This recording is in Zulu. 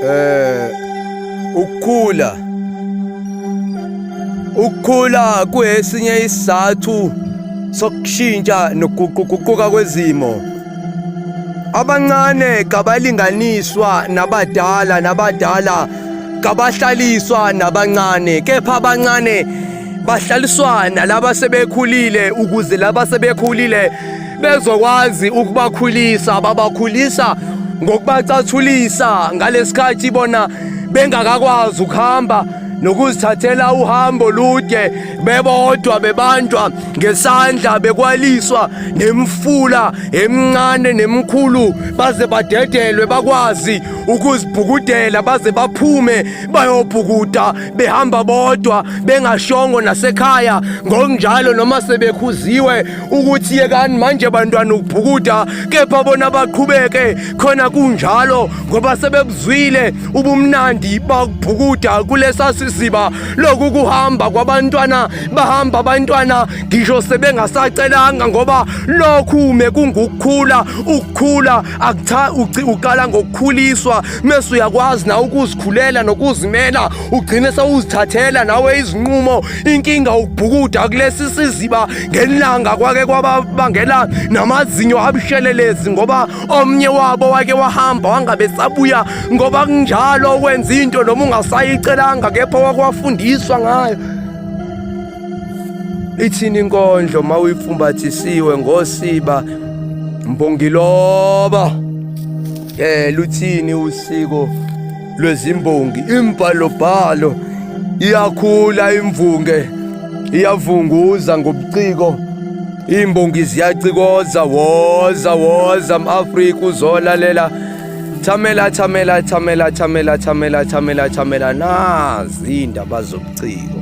Eh ukukhula Ukukhula kuyesinye isizathu sokushintsha nokuguquguquka kwezimo. Abancane kabalinganiswa nabadala nabadala kabahlaliswa nabancane kepha abancane bahlaliswa nalaba sebekhulile ukuze laba sebekhulile bezokwazi ukubakhulisa babakhulisa ngokubacathulisa ngalesikhathi bona bengakakwazi ukuhamba nokuzithathela uhambo lude bebodwa bebanjwa ngesandla bekwaliswa nemfula emncane nemkhulu baze badedelwe bakwazi ukuzibhukudela baze baphume bayobhukuda behamba bodwa bengashongo nasekhaya ngokunjalo noma sebekhuziwe ukuthi yekani manje bantwana ukubhukuda kepha bona baqhubeke khona kunjalo ngoba sebebuzwile ubumnandi bakubhukuda kulesa siziba loku kuhamba kwabantwana bahamba abantwana ngisho sebengasacelanga ngoba lokhu mekungukukhula ukukhula akutha uqala ngokukhuliswa mese uyakwazi na ukuzikhulela nokuzimela ugcine sewuzithathela nawe izinqumo inkinga ukubhukuda kulesi siziba ngelanga kwake kwaba bangela namazinyo abushelelezi ngoba omnye wabo wake wahamba wangabe sabuya ngoba kunjalo ukwenza into noma ungasayicelanga kepha wakwafundiswa ngayo ithini inkondlo uma uyifumbathisiwe ngosiba mbongiloba um luthini usiko lwezimbongi imbhalobhalo iyakhula imvunge iyavunguza ngobuciko imbongi ziyacikoza woza woza mAfrika uzolalela thamela thamela thamela thamela thamela thamela thamela nazi indaba zobuciko